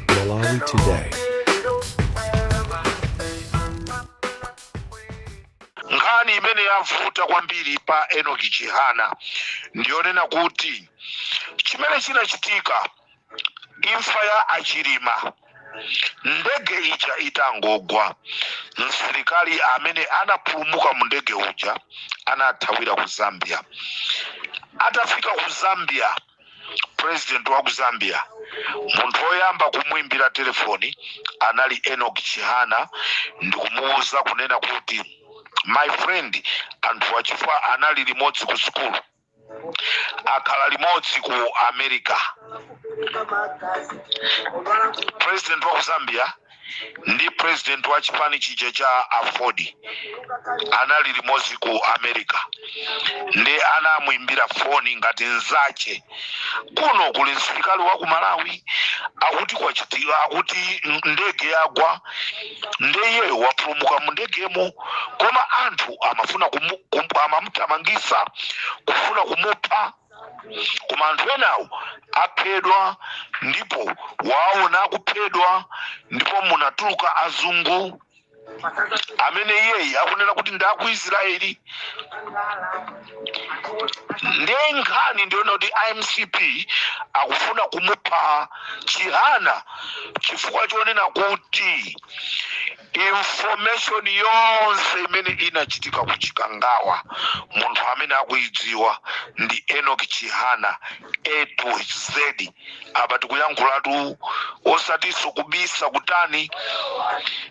Malawi Today. nkhani imene yavuta kwambiri pa enoki chihana ndiyonena kuti chimene chinachitika imfa ya achilima ndege ija itangogwa msilikali amene anapulumuka mu ndege uja anathawira ku zambia atafika ku zambia president wa ku zambia munthu woyamba kumwimbira telefoni anali enok chihana ndikumuwuza kunena kuti my friend anthu wa chifukwa anali limodzi ku sukulu akhala limodzi ku america president wa ku zambia ndi president wa chipani chija cha afodi anali limodzi ku america nde anamuimbira foni ngati nzache kuno kuli msilikali wa ku malawi akuti kwachitika akuti m- ndege yagwa nde iyeyo wapulumuka mu ndegemo koma anthu amafuna kumu- kum- amamuthamangisa kufuna kumupha koma anthu enawo aphedwa ndipo waona akuphedwa ndipo munatuluka azungu amene iyeyi akunena kuti ndi aku israeli nde nkhani ndiyonena kuti a mcp akufuna kumupha chihana chifukwa chonena kuti Information yonse imene inachitika ku Chikangawa munthu amene akuidziwa ndi Enoch Chihana A to Z. Apa tikuyankhulatu osatiso kubisa kutani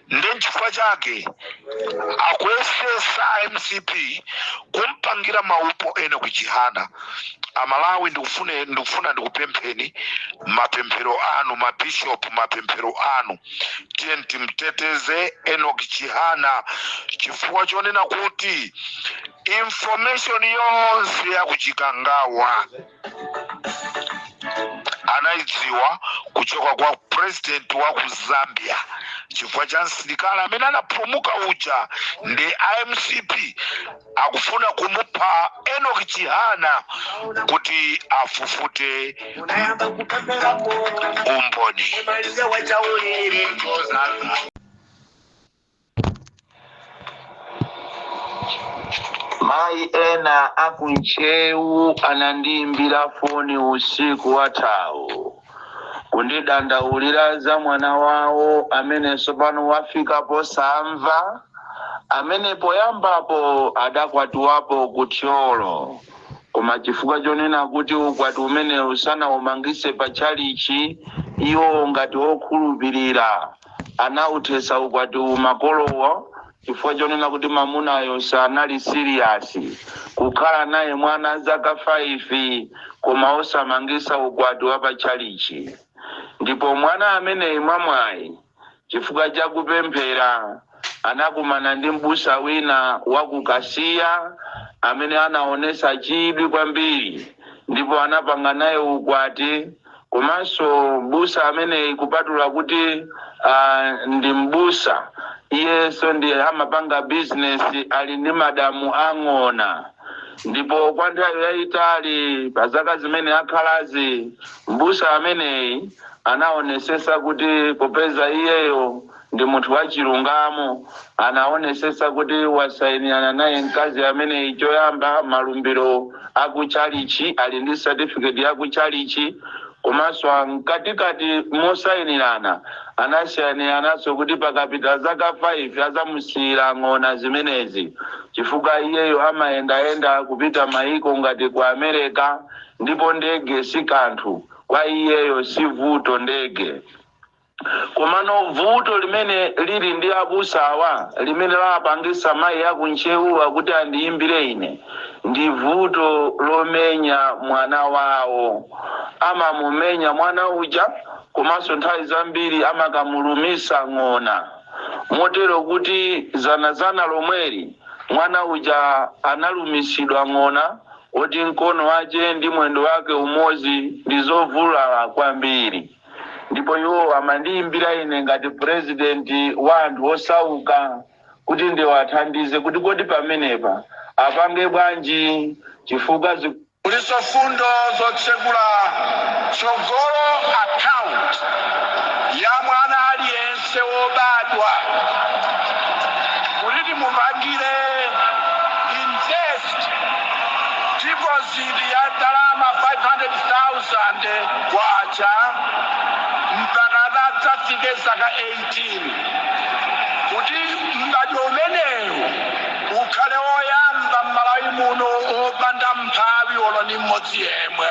nde nchifukwa chake akuyesesa a mcp kumpangira maupo enok chihana amalawi ndikufuna ndikupempheni mapemphero anu mabishopu mapemphero anu tiye timteteze enok chihana chifukwa chonena kuti information yonse yakuchikangawa anaidziwa kuchoka kwa president wa ku zambia chifukwa cha msilikali amene anapulumuka uja nde a mcp akufuna kumupha enoki chihana kuti afufute nayamba kupemberako umboni imalize wachaulire kozanga mayi ena akuntcheu anandiimbira foni usiku wathawu kundidandaulira za mwana wawo amene tsopano wafika posamva amene poyambapo adakwatiwapo ku thyolo koma chifukwa chonena kuti ukwati umenewu sanaumangise pa tchalichi iwo ngati okhulupirira anawuthetsa ukwatiwu makolowo chifukwa chonena kuti mamunayo sanali serious kukhala naye mwana zaka 5 koma osamangisa ukwati wa pa tchalitchi ndipo mwana ameneyi mwa mwayi chifukwa cha kupemphera anakumana ndi m'busa wina wa ku Kasiya amene anaonesa chidwi kwambiri ndipo anapanga naye ukwati komanso mbusa ameneyi kupatula kuti uh, ndi mbusa iyenso ndi amapanga bizinesi ali ndi madamu ang'ona ndipo kwa nthawi yayitali pa zaka zimene akhalazi mbusa ameneyi anaonesesa kuti popeza iyeyo Ndi munthu wachilungamo. Anaonetsetsa kuti wasainirana naye mkazi ameneyi choyamba malumbiro a ku tchalitchi, ali ndi certificate ya ku tchalitchi. Komanso mkatikati mosainirana anasainirananso kuti pakapita zaka 5 azamusiyira ng'ona zimenezi chifukwa iyeyo amayendayenda kupita maiko ngati ku Amereka ndipo ndege si kanthu kwa iyeyo, si vuto ndege. Komano vuto limene lili ndi abusawa limene lapangisa mayi aku Ntcheuwa kuti andiyimbire ine ndi vuto lomenya mwana wawo. Amamumenya mwana uja komanso nthawi zambiri amakamulumisa ng'ona motero kuti zanazana lomweri mwana uja analumisidwa ng'ona oti mkono wache ndi mwendo wake umozi ndi zovulala kwambiri. ndipo iwo amandiyimbira ine ngati purezidenti wa anthu osauka kuti ndiwathandize kuti kodi pamenepa apange bwanji chifukwa zi- kulinso fundo zotsegula tsogolo akaunti ya mwana aliyense wobadwa kuti timupangire invest ndipo Bandi ya ndalama K500,000 mpakana adzafike zaka 18. Kuti m'badwo umenewu ukhale woyamba m'Malawi muno wopanda mphawi olo ndi m'modzi yemwe.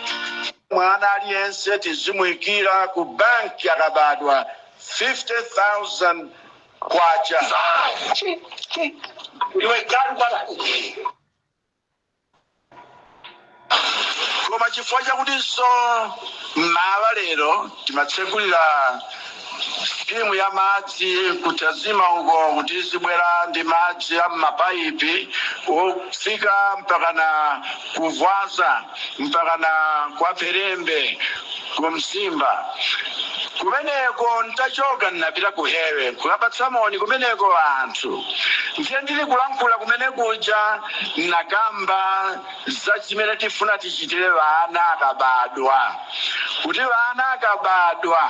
Mwana aliyense tizimuikira ku banki akabadwa K50,000. Iwe galu kwabasi. Koma chifukwa chakutinso m'mawa lero timatsekulira sikimu ya madzi ku Tazima uko kuti tizibwera ndi madzi a m'mapaipi ofika mpakana ku Vwaza. mpakana kwa Pherembe ku Mzimba. Kumeneko n'tachoka n'napita ku Hewe kukapatsa moni kumeneko anthu. Ndiye ndili kulankhula kumene kuja n'nakamba za chimene tifuna tichitire ana akabadwa, kuti ana akabadwa.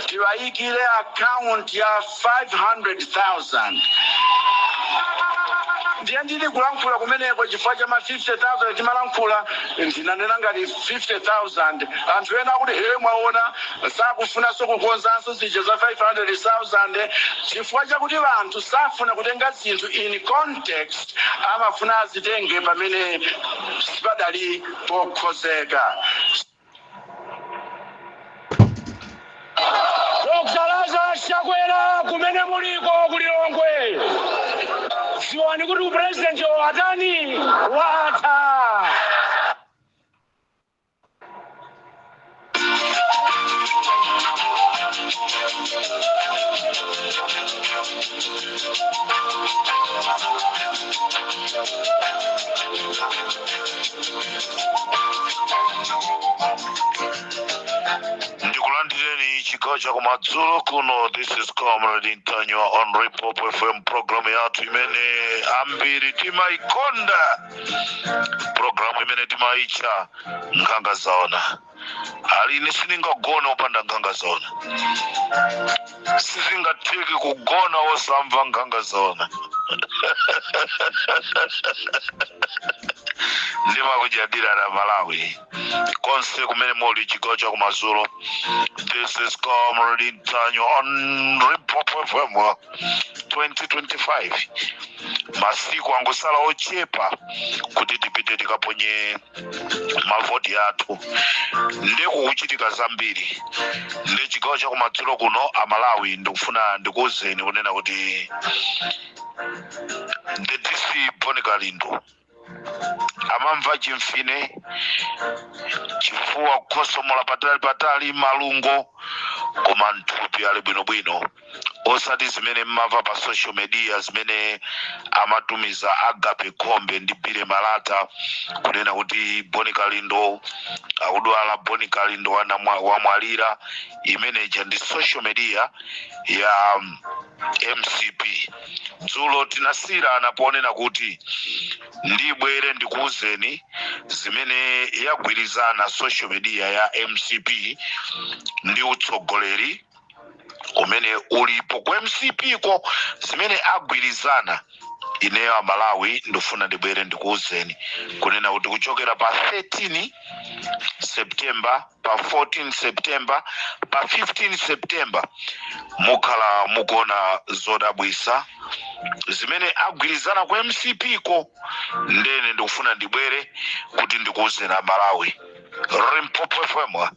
tiwayikire account ya 500,000 ndiye ndili kulankhula kumeneko chifukwa cha ma 50000 timalankhula ndinanena ngati 50000 anthu ena akuti ee mwaona sakufunanso kukonzanso zija za 500000 chifukwa chakuti anthu safuna kutenga zinthu in context amafuna azitenge pamene sipadali pokhozeka Dr Lazarus Chakwera kumene muliko ku Lilongwe dziwani kuti upresidenti watani watha ndikulandireni chigawo chakumadzulo kuno this is comrade ntanywa on repop fm program yathu imene ambiri timaikonda program imene timaitcha nkhanga zaona aliyense sindingagona opanda nkhanga zaona sizingatheki kugona osamva nkhanga zaona ndimakunyadirani amalawi konse kumene muli chigawo cha kumadzulo this is comrade ntanywa on repop fm 2025 masiku angosala ochepa kuti tipite tikaponye mavoti athu nde kukuchitika zambiri nde chigawo chakumadzulo kuno amalawi ndikufuna ndikuwuzeni kunena kuti the dc bon kalindo amamva chimfine chifuwa kukhosomola patali patali malungo koma mthupi ali bwinobwino osati zimene mmamva pa social media zimene amatumiza agape khombe ndi bile malata kunena kuti Bon Kalindo akudwala Bon Kalindo wanamwa- wamwalira imeneja ndi social media ya um, mcp dzulo tinasiyirana ponena kuti ndibwere ndikuwuzeni zimene yagwirizana social media ya mcp ndi utsogoleri umene ulipo ku mcp ko zimene agwirizana ineyo amalawi ndifuna ndibwere ndikuwuzeni kunena kuti kuchokera pa 13 september pa 14 september pa 15 september mukhala mukuona zodabwisa zimene agwirizana ku mcp ko ndene ndikufuna ndibwere kuti ndikuwuzeni amalawi Limpopo fm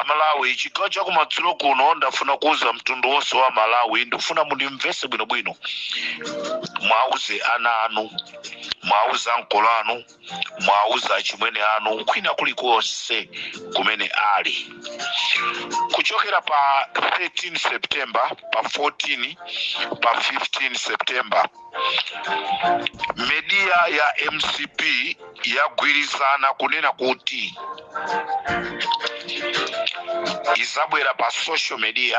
amalawi chigawo cha kumadzulo kuno ndafuna kuuza mtundu wonse wa malawi ndifuna mundimvese bwinobwino mwauze ana anu mwauze ankolo anu mwauze achimwene anu kwina kulikonse kumene ali kuchokera pa 13 september pa 14 pa 15 september media ya mcp yagwirizana kunena kuti izabwera pa social media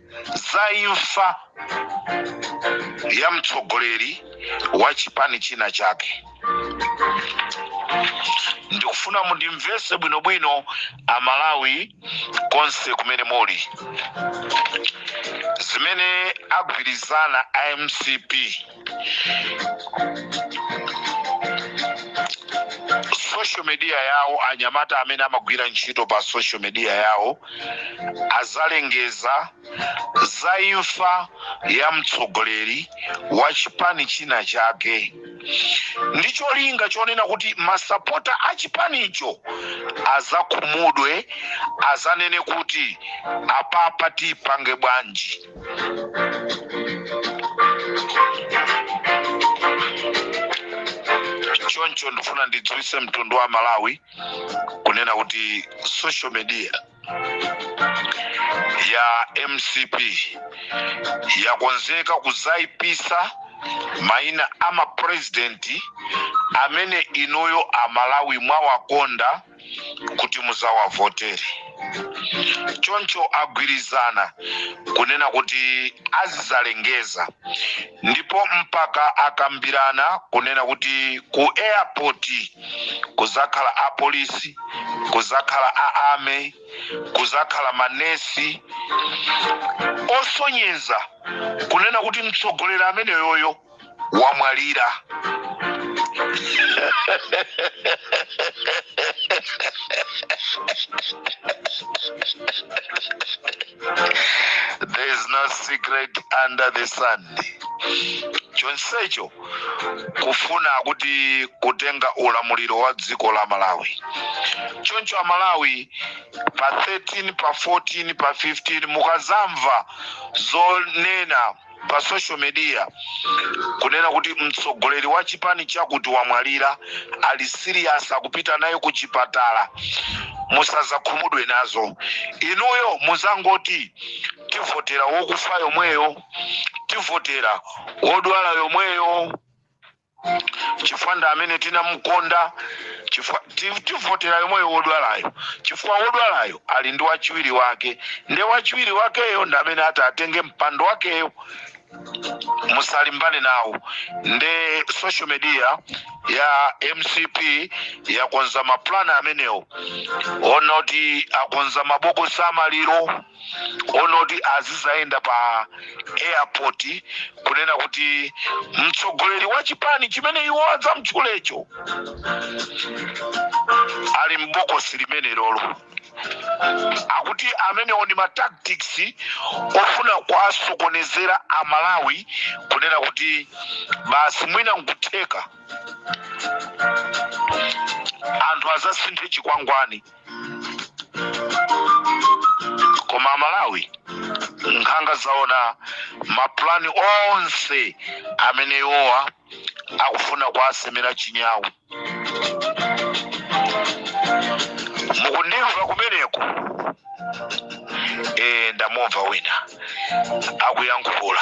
za imfa ya mtsogoleri wa chipani china chake ndikufuna mundimvese bwinobwino amalawi konse kumene muli zimene agwirizana a mcp social media yawo anyamata amene amagwira ntchito pa social media yawo azalengeza za imfa ya mtsogoleri wa chipani china chake ndi cholinga chonena kuti masapota a chipanicho azakhumudwe azanene kuti apapa tipange bwanji choncho ndifuna ndidziwitse mtundu wa malawi kunena kuti social media ya mcp yakonzeka kuzaipisa maina a mapurezidenti amene inuyo amalawi mwawakonda kuti muzawavotere choncho agwirizana kunena kuti azizalengeza ndipo mpaka akambirana kunena kuti ku airport kuzakhala apolisi kuzakhala a army kuzakhala manesi osonyeza kunena kuti mtsogoleri ameneyoyo wamwalira there is no secret under the sun chonsecho kufuna kuti kutenga ulamuliro wa dziko la malawi choncho amalawi pa 13 pa 14 pa 15 mukazamva zonena pa social media kunena kuti mtsogoleri wa chipani chakuti wamwalira ali serious akupita naye ku chipatala musazakhumudwe nazo inuyo muzangoti tivotera wokufa yomweyo tivotera wodwala yomweyo chifukwa ndi amene tinamukonda tivotera yomweyo wodwalayo chifukwa wodwalayo ali ndi wachiwiri wake nde wachiwiri wakeyo ndi amene ati atenge mpando wakeyo musalimbane nawo nde social media ya mcp yakonza mapulani amenewo wonena kuti akonza mabokosi amaliro wonena kuti azizayenda pa airport kunena kuti mtsogoleri wa chipani chimene iwo adzamtchulecho ali m'bokosi limenelolo akuti amenewo ndi matactics ofuna kuwasokonezera amalawi kunena kuti basi mwina nkutheka anthu azasinthe chikwangwani koma amalawi nkhanga zaona mapulani onse amene iwowa akufuna kuwasemera chinyawu mukundimva kumeneko e, ndamumva wina akuyankhula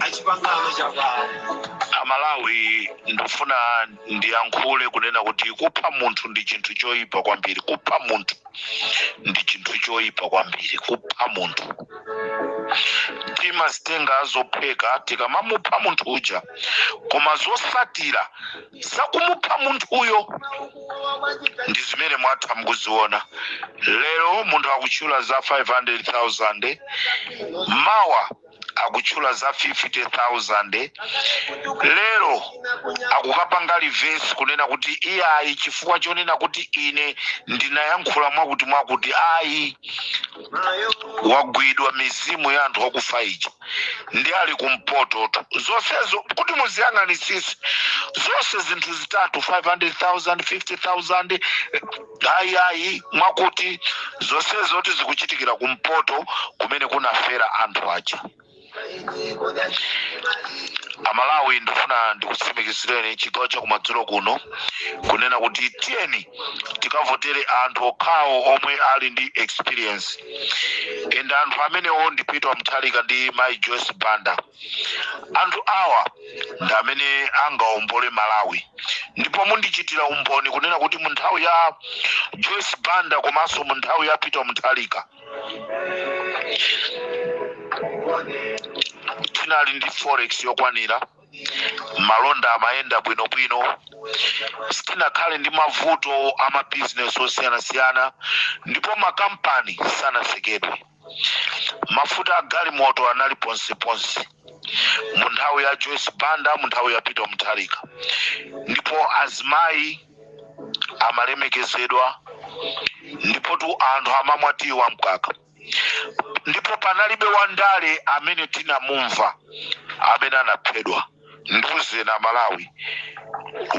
achipangano chakwawo amalawi ndifuna ndiyankhule kunena kuti kupha munthu ndi chinthu choyipa kwambiri kupha munthu ndi chinthu choyipa kwambiri kupha munthu timazitenga zophweka tikamamupha munthu uja koma zosatira zakumupha munthuyo ndi zimene mwatha mukuziona lero munthu akutchula za 500000 mawa akutchula za 50000 lero akukapanga reverse kunena kuti iyayi chifukwa chonena kuti ine ndinayankhula mwakuti mwakuti ayi wagwidwa mizimu ya anthu akufa ija ndi ali kumpototu zonsezo kuti muziyang'anitsitse zonse zinthu zitatu 500000 50000 ayi ayi mwakuti zonsezo kuti zikuchitikira kumpoto kumene kunafera anthu aja amalawi ndifuna ndikutsimikizireni chigawo chakumadzulo kuno kunena kuti tiyeni tikavotere anthu okhawo omwe ali ndi experience and anthu amenewo ndi peter mutharika ndi mai joyce banda anthu awa ndi amene angaombole malawi ndipo mundichitira umboni kunena kuti mu nthawi ya joyce banda komanso mu nthawi ya peter mutharika tinali ndi forex yokwanira malonda amayenda bwinobwino sitinakhale ndi mavuto a mabizinesi osiyanasiyana ndipo makampani sanatsekedwe mafuta a galimoto anali ponseponse mu nthawi ya joyce banda mu nthawi ya peter mutharika ndipo azimayi amalemekezedwa ndipotu anthu amamwa tiyi wa mkaka ndipo panalibe wandale amene tinamumva amene anaphedwa ndiuzeni amalawi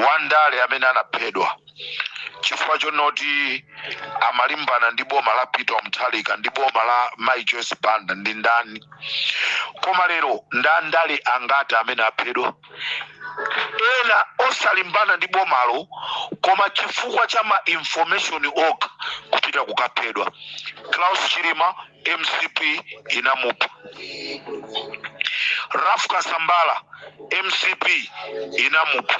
wandale amene anaphedwa chifukwa chonoti amalimbana ndi boma la peter mutharika ndi boma la mai joyce banda ndi ndani koma lero nda ndale angati amene aphedwa ena osalimbana ndi bomalo koma chifukwa cha ma information okha kupita kukaphedwa klaus chilima mcp inamupha ralph kasambara mcp inamupha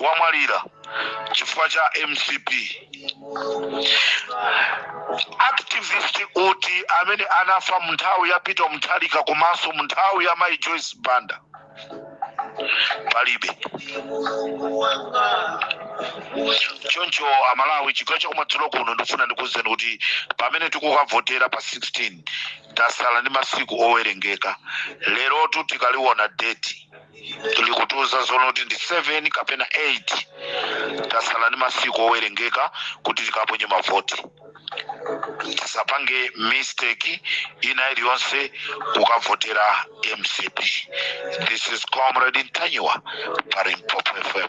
wamwalira chifukwa cha mcp activist uti amene anafa munthawi ya peter mutharika komanso munthawi ya mai joyce banda palibe choncho amalawi chigawo chakumadzulo kuno ndifuna ndikuwuzeni kuti pamene tikukavotera pa 16 tasala ndi masiku owerengeka lerotu tikaliwona deti likutiuza zoonati ndi 7 kapena 8 tasala ndi masiku owerengeka kuti tikaponye mavoti tisapange mistake ina iliyonse kukavotera mcp this is comrade ntanyiwa pa limpopo fm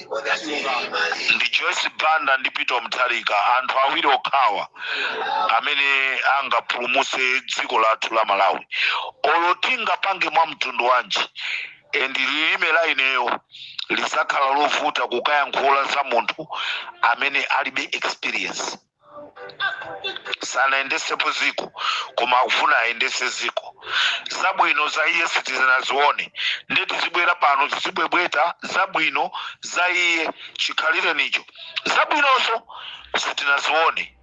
ndi joyce banda ndi peter mutharika anthu awiri okhawa amene angapulumutse dziko lathu la malawi olo tingapange mwa mtundu wanji endi lilime la ineyo lisakhala lovuta kukayankhula za munthu amene alibe experience sanayendetsepo ziko koma akufuna ayendetse ziko zabwino za iye sitinazione ndiye tizibwera pano tizibwebweta zabwino za iye chikhalirenicho zabwinozo sitinazione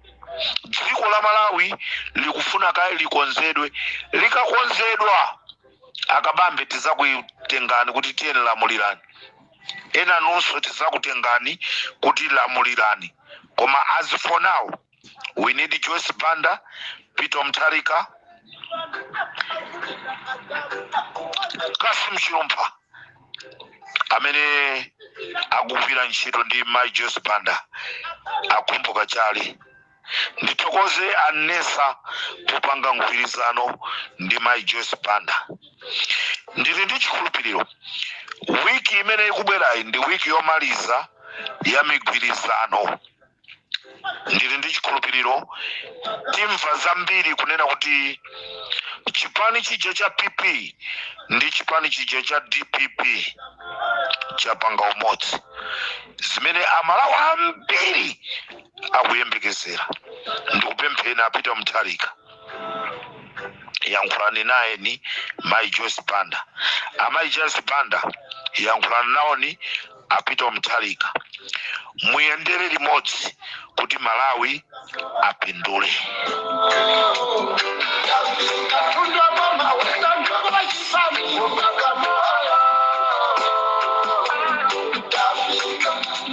dziko la malawi likufuna kaye likonzedwe likakonzedwa akabambe tizakuyitanani kuti tiyeni lamulirani ena nonse tizakuyitanani kuti lamulirani koma as for now we need joyce banda peter mutharika cassim chilumpha amene akugwira ntchito ndi mai joyce banda a khumbo kachali Ndithokoze a Nessa popanga mgwirizano ndi Mai Joyce Banda. Ndili ndi chikhulupiriro wiki imene ikubwerayi ndi wiki yomaliza ya migwirizano. Ndili ndi chikhulupiriro timva zambiri kunena kuti chipani chija cha PP ndi chipani chija cha DPP chapanga umodzi zimene Amalawi ambiri akuyembekezera ndikupempheni a peter mutharika yankhulani nayeni mai joyce banda amai joyce banda yankhulani nawoni a peter mutharika muyendere limodzi kuti malawi apindule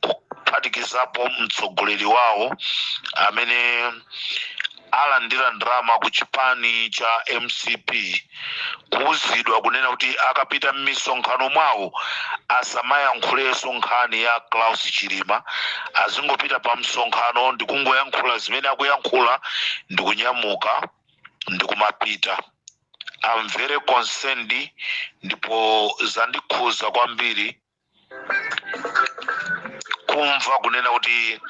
kuphatikizapo mtsogoleri wawo amene alandira ndalama ku chipani cha mcp kuuzidwa kunena kuti akapita m'misonkhano mwawo asamayankhulenso nkhani ya klaus chilima azingopita pa msonkhano ndikungoyankhula zimene akuyankhula ndikunyamuka ndikumapita I'm very concerned ndipo zandikhuza kwambiri kumva kunena kuti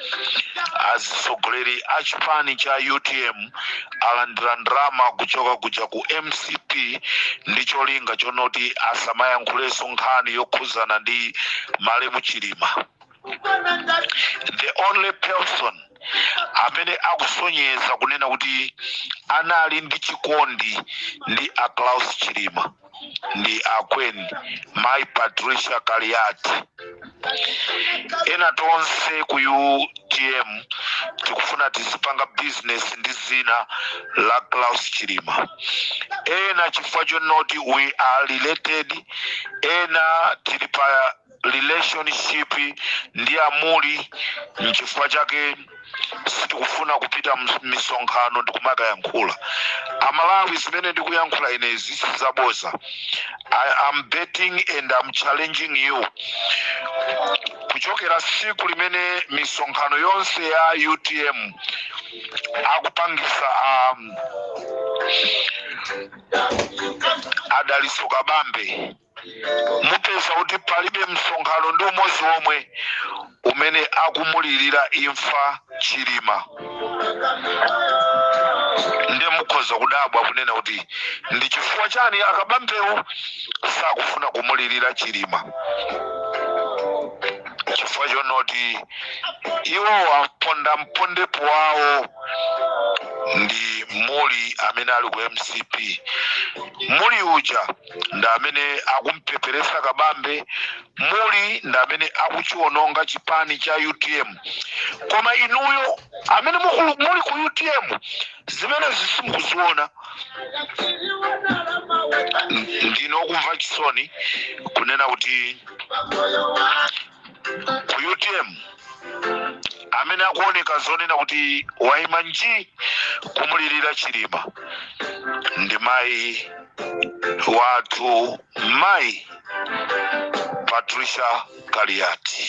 atsogoleri a chipani cha utm alandira ndalama kuchoka kuja ku mcp ndi cholinga chonoti asamayankhulenso nkhani yokhuzana ndi malemu chilima the only person amene akusonyeza kunena kuti anali ndi chikondi ndi a Klaus Chilima ndi akweni mai patricia kaliati ena tonsefe ku utm tikufuna tizipanga business ndi zina la klaus chilima ena chifukwa chonoti we are related ena tili pa relationship ndi amuli nchifukwa chake sitikufuna kupita m'misonkhano ndikumakayankhula amalawi zimene ndikuyankhula inezi sizaboza I am betting and I'm challenging you kuchokera siku limene misonkhano yonse ya utm akupangisa a Dalitso kabambe mupeza kuti palibe msonkhano ndi umodzi omwe umene akumulirira imfa ya chilima nde mukhoza kudabwa kunena kuti ndi chifukwa chani a kabambewo sakufuna kumulirira chilima chifukwa chonoti iwo apondamponde wawo ndi muli amene ali ku mcp muli uja ndi amene akumpeperesa kabambe muli ndi amene akuchiwononga chipani cha utm koma inuyo amene muli ku utm zimenezi simukuziona ndine okumva chisoni kunena kuti ku utm amene akuoneka zoonadi kuti waima nji kumulirira chilima ndi mayi wathu mayi patricia kaliati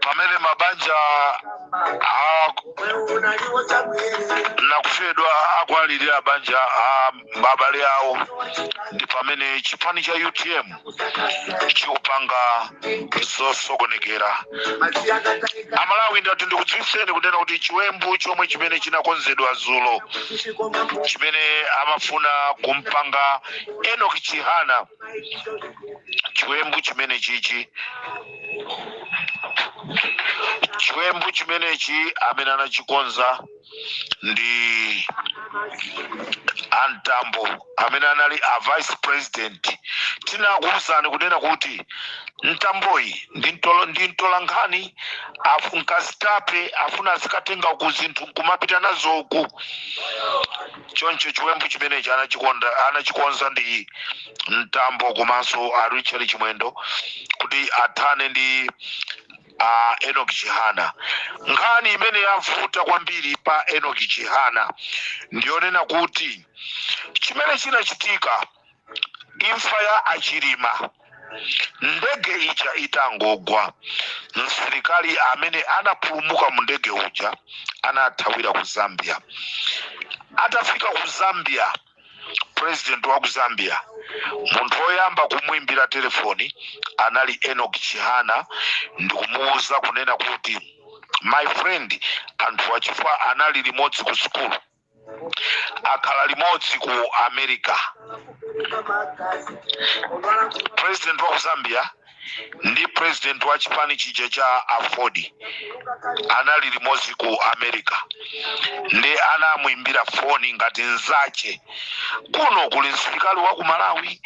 pamene mabanja anamfedwa akuwalirira banja la abale awo ndi pamene chipani cha utm chikupanga zosokonekera amalawi ndati ndikudziwitseni kunena kuti chiwembu chomwe chimene chinakonzedwa dzulo chimene amafuna kumpanga enoki chihana chiwembu chimene chichi chiwembu chimenechi amene anachikonza ndi antambo amene anali a vice president tinakuwuzani kunena kuti ntamboyi ndi mtolo- ndi mtolankhani afu- nkazitape afuna azikatenga ku zinthu nkumapita nazo uku choncho chiwembu chimenechi anachikonda anachikonza ndi ntambo komanso a richard chimwendo kuti athane ndi a enoki chihana nkhani imene yavuta kwambiri pa enoki chihana ndiyonena kuti chimene chinachitika imfa ya achilima ndege ija itangogwa msilikali amene anapulumuka mu ndege uja anathawira ku zambia atafika ku zambia president wa ku zambia munthu woyamba kumwimbira telefoni anali enok chihana ndikumuwuza kunena kuti my friend anthu achifukwa anali limodzi ku sukulu akhala limodzi ku america president wa ku zambia ndi president wa chipani chija cha aford anali limodzi ku america ndi anamuimbira foni ngati nzache kuno kuli msilikali wa ku malawi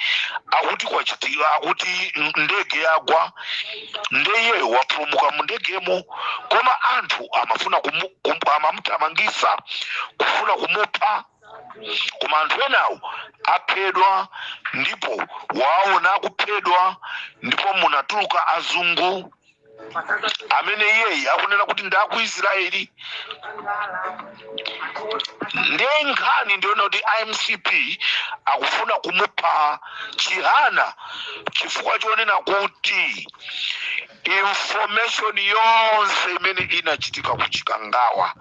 akuti kwachitika akuti ndege yagwa nde iyeyo wapulumuka mundegemo koma anthu amafuna kumu- kum- amamuthamangisa kufuna kumupha koma anthu enawo aphedwa ndipo waona akuphedwa ndipo munatuluka azungu amene iyeyi akunena kuti ndi aku israeli ndiye nkhani ndi yonena kuti a mcp akufuna kumupha chihana chifukwa chonena kuti information yonse imene inachitika ku chikangawa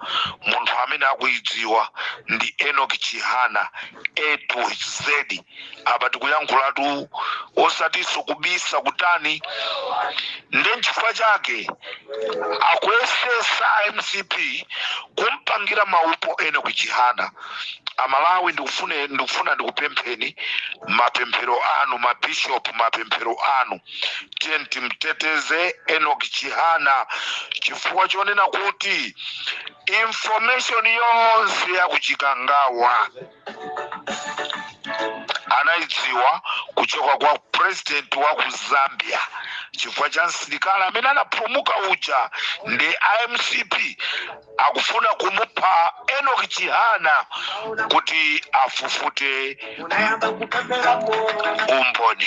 munthu amene akuidziwa ndi enoki chihana a to z apa tikuyankhulatu osatiso kubisa kutani nde nchifukwa chake akuyesesa mcp kumpangira maupo enoki chihana amalawi ndikufune ndikufuna ndikupempheni mapemphero anu mabishop mapemphero anu tiyeni timteteze enok chihana chifukwa chonena kuti information yonse yakuchikangawa anaidziwa kuchoka kwa president wa ku zambia chifukwa cha msilikali amene anapulumuka uja ndi a mcp akufuna kumupha enoch chihana kuti afufute umboni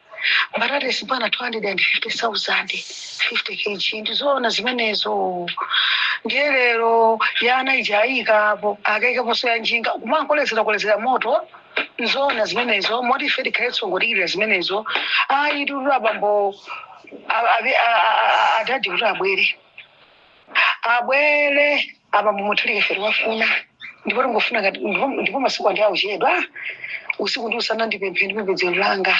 mbatatesi pano 250,000 50 kg ndizoona zimenezo ndiye lero ya ana ija ayikapo akaikaponso ya njinga kumangokolezera kolezera moto nzoona zimenezo moti ife tikhalenso ngodikirira zimenezo ayi titula bambo a- abe- a- a- a- adadi kuti abwere abwere apa mumutulire ife tikuwafuna ndipo tingofuna ngati ndipo ndipo masiku ndi akuchedwa usiku ndi usana ndi pempho ndi pembedzero langa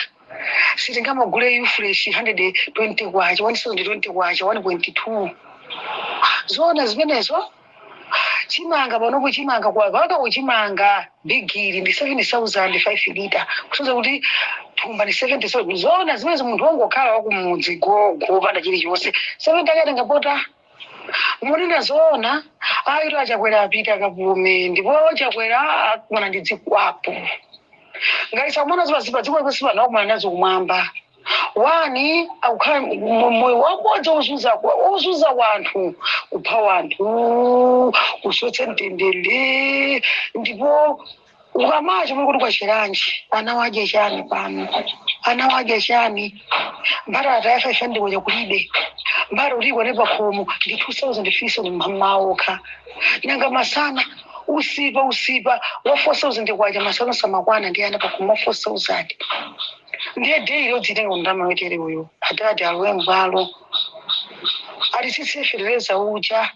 sitingamagule yu fresh 120 kwacha 120 kwacha 1.2 zoona zimenezo chimanga panopo chimanga kwa paka uchimanga bigiri ndi 7500 lita kusonyeza kuti thumba ndi 70 so zoona zimenezo munthu wongokhala wakumudzi gogo opanda chilichonse 70 akatenga poti Munena zoona ayitu achakwera apita akapume ndipo chakwera akumana ndi dzikwapu ngati sakumana nazo pa dziko lapansi pano akumana nazo kumwamba wani akukhala mu- moyo wabodza ozunza kwa- ozunza wanthu kupha wanthu kusowetsa mtendere ndipo ukamaya chomwe kuti kwacherenji ana wadya chani pano ana wadya chani mbatata ya fa ife ndikocha kulibe mbatata yokwana pakhomo ndi 2000 fiso ni mmaoka nanga masana usipa usipa wa 4000 kwacha masana sumakwana ndi ana pakhomo wa 4000 ndiye daily ndizitenga kuti ndalama yotere uyu adadi alowe mbwalo atitsitsire fetereza uja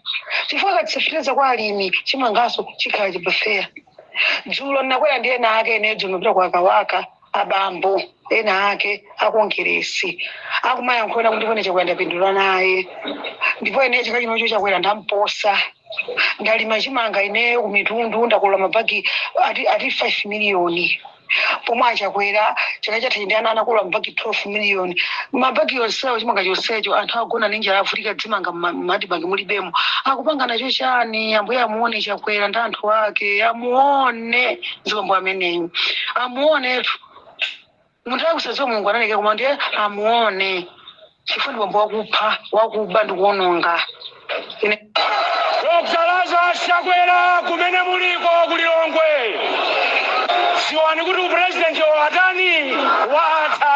chifukwa akatsitsa fetereza kwa alimi chimanganso chikhala cha pafeya dzulo ndinakwera ndi ena ake ene dzulo ndinapita kwa kabaza abambo ena ake akongeresi akumayankhulana kuti ine chakwera ndapindula naye ndipo ine chaka chinocho chakwera ndamposa ndalima chimanga ineyo kumitundu ndakolola mabagi ati, ati 5 miliyoni pomwe achakwera chaka chatha ndi ana anakolola mabagi 12 miliyoni mabagi yonsewo chimanga chonsecho anthu agona ndi njala avutika zimanga mma- mma admarc mulibemo akupanga nacho chani ambuye amuone chakwera ndi anthu ake amuone bambo ameneyu amuonetu Munthu wosadziwa Mulungu analekera koma ndiye amuone chifukwa ndi bambo wakupha wakuba ndi kuononga Dr. Lazarus Chakwera kumene muliko ku Lilongwe dziwani kuti upresident wanu watani watha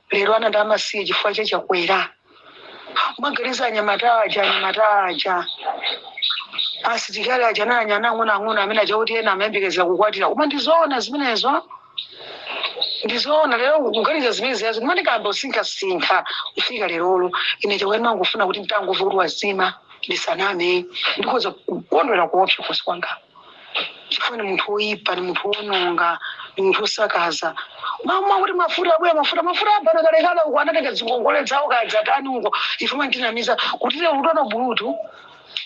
lero ana ndi amasiye chifukwa cha chakwera mwaganiza anyamata aja anyamata aja asitikali aja anali ana ang'onoang'ono amene aja kuti ena amayembekezera kukwatira koma ndizoona zimenezo ndizoona lero kuganiza zimene zijazo ndimati kamba kusinkhasinkha kufika lerolo ine chakwera ndimangofuna kuti nditangomva kuti wazima ndisaname ndikhoza kukondwera kuopsa kukhosi kwanga chifukwa ndi munthu woyipa ndi munthu wononga ndi munthu wosakaza amati kuti mafuta abwera mafuta mafuta abana kalekale uko anatenga zingongole zawo kadzatani uko ife mumatinamiza kuti lero kuti bulutu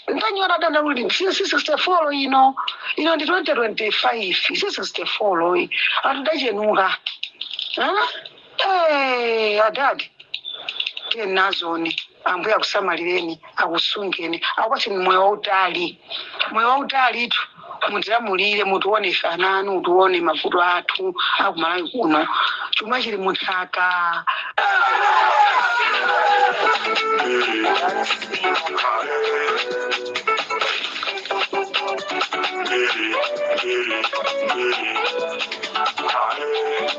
ntanyora ndanena kuti si 64 ino ino ndi 2025 si 64 yayi anthu adachenuka Hey, adadi tiyeni nazoni ambuye akusamalireni akusungeni akupatseni moyo wautali moyo wautali ndithu mutilamulire mutione ife ana anu mutione mavuto athu akumalawi kuno chuma chili munthaka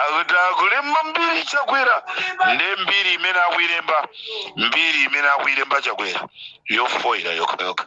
akuti akulemba mbiri chakwera ndi mbiri imene akuilemba mbiri imene akuilemba chakwera yofoira yokhayokha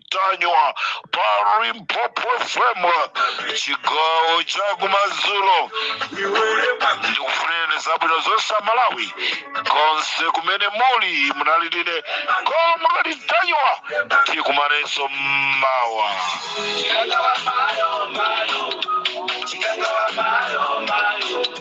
ntanyiwa pa limpopo fm chigawo chakumadzulo ndikufunireni zabwino zonse amalawi konse kumene muli munali ndi ine comrade ntanyiwa tikumanenso mmawa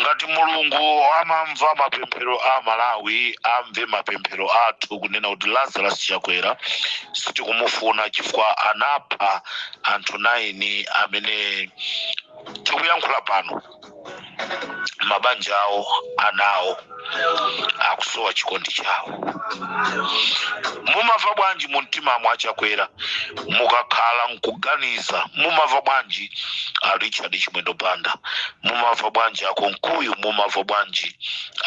ngati mulungu amamva mapemphero a malawi amve mapemphero athu kunena kuti lazarus chakwera sitikumufuna chifukwa anapha anthu 9 amene tikuyankhula pano mabanja awo ana awo akusowa chikondi chawo mumamva bwanji mu mtima mwa chakwera mukakhala nkuganiza mumamva bwanji a richard chimwendo banda mumamva bwanji a kunkuyu mumamva bwanji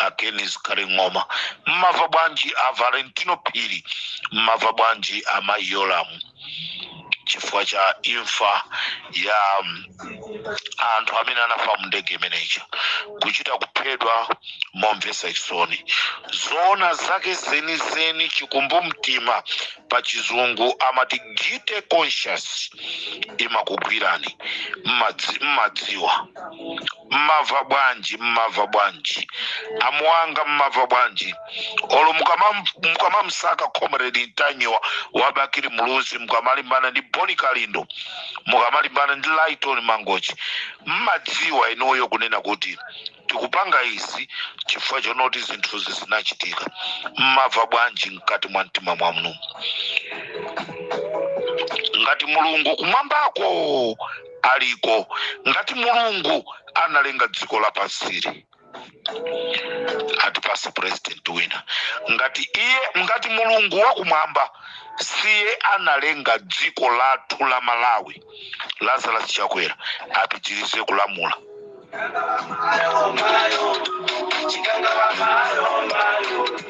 a ken zikhale ng'oma mumamva bwanji a valentino phiri mumamva bwanji a mayi yolamu chifukwa cha imfa ya mm, anthu amene anafa mu ndege imeneyija kuchita kuphedwa momvetsa chisoni zoona zake zenizeni chikumbumtima pa chizungu amati guilty conscience imakugwirani mmadzi- mmadziwa mmava bwanji mmava bwanji amuwanga mmava bwanji olo mukamam- mukamamsaka comrade ntanyiwa wa bakili muluzi mukamalimbana ndi boni kalindo mukamalimbana ndi lighton mangochi mmadziwa inuyo kunena kuti tikupanga izi chifukwa chonoti zinthuzi zinachitika mmava bwanji mkati mwa mtima mwanumo ngati mulungu kumwambako aliko ngati mulungu analenga dziko lapansili atipase president wina ngati iye ngati mulungu wakumwamba siye analenga dziko lathu la malawi lazarus chakwera apitirize kulamula